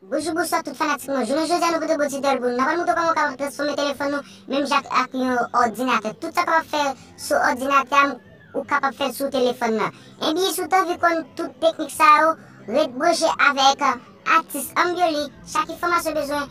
Boujou bousswa tout fanatik mwen jounen jodi a nou pote bon ti dèl pou nou nan pral moutre w kòman w kapab transfòme telefòn nou menm jan ak yon òdinatè tout sa w kapab fè sou òdinatè a ou kapab fè l sou telefòn nan ebyen si w t anvi konn tout teknik sa yo ret branche avèk atis Ambioli chak enfòmasyon w bezwen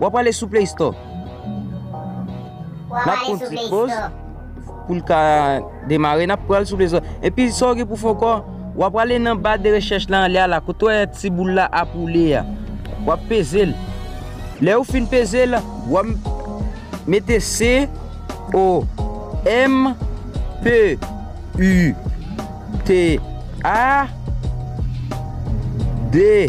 Wap ale sou play store. Wap ale sou play store. Poul ka demare nap pral sou play store. E pi sa w gen pou fè ankò. Wap ale nan ba de rechèch la anlè a la. Kote w wè ti boul la ap woule a. Wap peze l. Lè ou fin peze l. Wap mete C O M P U T A D.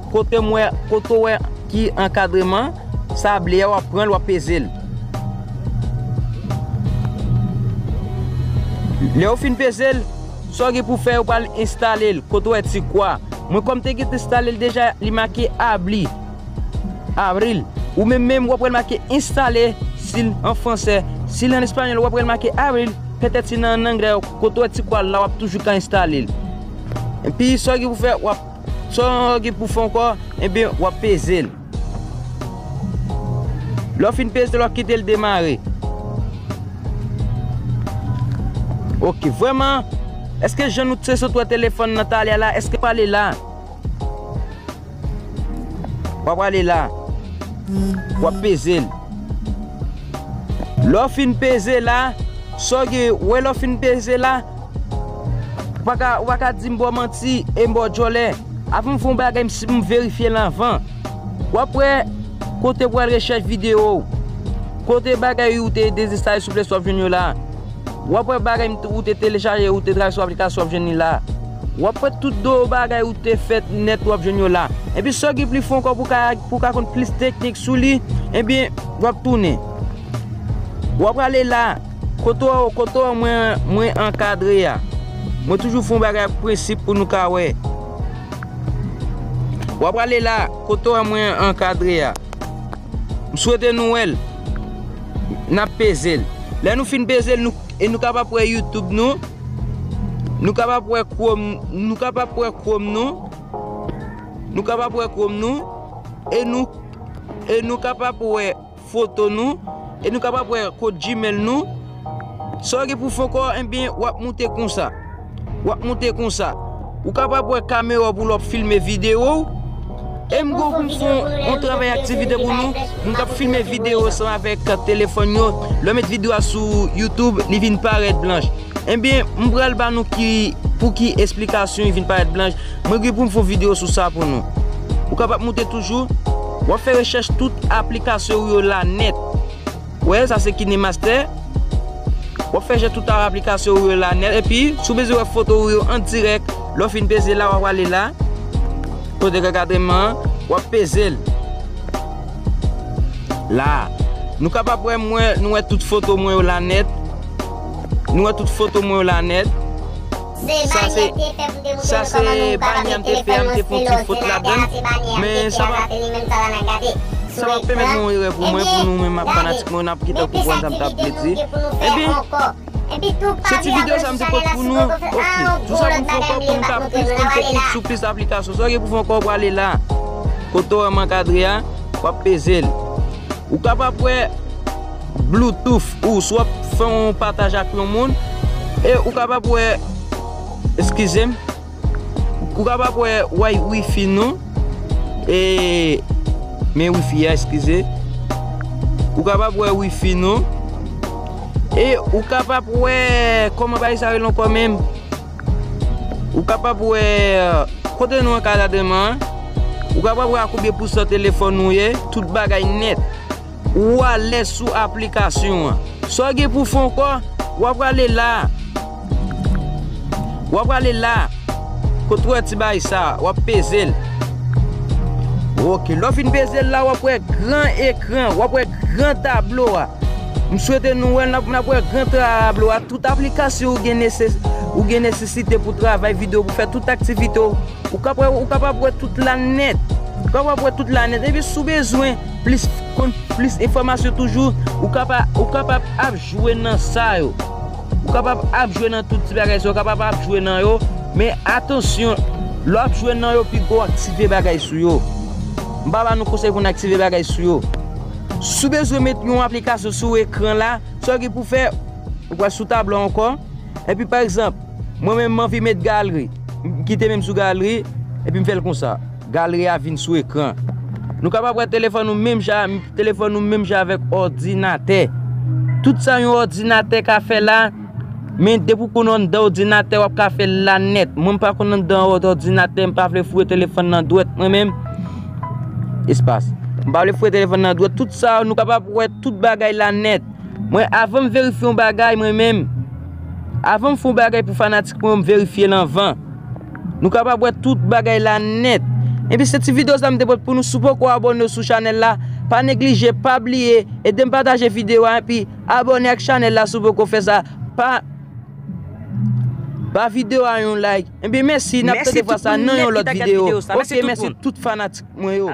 Kote mwen kote ou wè ki ankadreman sa ble a wap pranl wap peze l lèw fin peze l sa w gen pou fè ou pral enstale l kote ou wè ti kwa mwen kòm te gentan enstale l deja li make abli avril ou menm menm wap wè l make enstale sil an fransè sil an espanyòl wap wè l make avril petèt si nan anglè kote ou wè ti kwa la wap toujou ka enstale l epi sa w gen pou fè wap. Sa w gen pou w fè ankò, enben w ap peze l. Lè w fin peze l, w ap kite l demare. Ok, vrèman, èske jan nou te sot wè telefòn nan talè a la, èske l prale la? Wa prale la. W ap peze l. Lè w fin peze la, sa w gen, wè lè w fin peze la, Ou pa ka, ou pa ka dim bò manti e m bò djòlè. Avan m fè yon bagay m si, m verifye l anvan. W ap wè kote pou al rechèch videyo w. Kote bagay ou te dezenstale sou Play Store w ap jwenn yo la. W ap wè bagay m te, ou te telechaje, ou te travay sou aplikasyon w ap jwenn li la. W ap wè tout do bagay ou te fè nèt w ap jwenn yo la. Enpi sa w gen pli fon ankò pou w ka, pou w ka konn plis teknik sou li, enpi w ap tounen. W ap prale la. Kote w kote w mwen mwen ankadre a mwen toujou fon bagay ak prensip pou nou ka wè w ap prale la kote w mwen ankadre a m swete nou wè l n ap peze l lè nou fin peze l e nou kapab wè youtube nou nou kapab wè krom nou kapab wè krom nou nou kapab wè krom nou e nou e nou kapab wè foto nou e nou kapab wè kod gmail nou sa ou gen pou fè kò enbyen wap moute konsa wap moute konsa ou kapab wè kamera pou lòp filme video ou e m gou pou m fon on travay aktivite pou nou m kap filme video san avèk telefòn yo lè met video a sou youtube li vin parèt blanch Enbyen, m pral ba nou ki pou ki esplikasyon li vin parèt blanch. Mwen gen pou m fè yon videyo sou sa pou nou. Ou kapab moute toujou. W ap fè rechèch tout aplikasyon ou yo la nèt. Ou wè, sa se KineMaster. W ap fè rechèch tout aplikasyon ou yo la nèt. Epi, si w bezwen wè foto ou yo an dirèk, lè w fin peze la, w ap prale la. Kote gen ankadreman an, w ap peze l. La a. Nou kapab wè mwen, nou wè tout foto mwen yo la nèt. Nou wè tout foto mwen yo la nèt. Sa se Sa se banyè m te fè a m te fon ti fot ladan l. Men sa pa Sa pa pèmèt nou erè pou mwen pou nou menm fanatik mwen yo n ap kite konprann sa m t ap vle di. Ebyen Se ti videyo sa m te pote pou nou. Ok Sou sa pou m fè ankò pou m ka plis pou m te klik sou plis aplikasyon. Sa w gen pou w fè ankò w prale la. Kote w wè m ankadre a w ap peze l. Ou kapab wè. Bluetooth ou swa fè yon pataj ak yon moun e ou kapab wè eskize m ou kapab wè way wifi nou e men wifi a eskize ou kapab wè wifi nou e ou kapab wè kòman bay sa rele ankò menm ou kapab wè kote nou ankadadreman an ou kapab wè a konbyen pousan telefòn nou ye tout bagay nèt. Ou alèz sou aplikasyon an. Sa w gen pou w fè ankò, w a prale la a. W a prale la a. Kote w wè ti bagay sa a, w ap peze l. Ok, lè w fin peze l la a, w ap wè gran ekran, w ap wè gran tablo a. M swete nou wè l, n ap wè gran tablo a. Tout aplikasyon ou gen nesesite pou travay videyo, pou fè tout aktivite w, ou kapab wè tout la nèt. Ou kapab wè tout la nèt. Epi si w bezwen. Plis konn plis enfòmasyon toujou ou kapab ou kapab ap jwe nan sa yo ou kapab ap jwe nan tout ti bagay sa yo ou kapab ap jwe nan yo men atansyon lè w ap jwe nan yo pito w aktive bagay sou yo m pa ba nou konsèy pou n aktive bagay sou yo si w bezwen met yon aplikasyon sou ekran la sa w gen pou fè ou pral sou tablo a ankò epi pa egzanp mwen menm m anvi met galri m kite menm sou galri epi m fè l konsa. Galri a vin sou ekran. Nou kapab wè telefòn nou menm jan telefòn nou menm jan avèk òdinatè. Tout sa yon òdinatè ka fè la, men depi w konn anndan òdinatè w ap ka fè l la nèt. Mwen m pa konn anndan òdinatè, m pa vle foure telefòn nan dwèt mwen menm. Espas. M pa vle foure telefòn nan dwèt. Tout sa nou kapab wè tout bagay la nèt. Mwen avan m verifye yon bagay mwen menm, avan m fè yon bagay pou fanatik mwen yo m verifye l anvan. Nou kapab wè tout bagay la nèt. Enpi se ti video sa m te pot pou nou si w poko abone sou chanèl la pa neglije pa bliye edem pataje video a enpi abone ak chanèl la si w poko fè sa pa ba video a yon like enpi mèsi nap tande vwa sa nan yon lòt video ok mèsi tout fanatik mwen yo.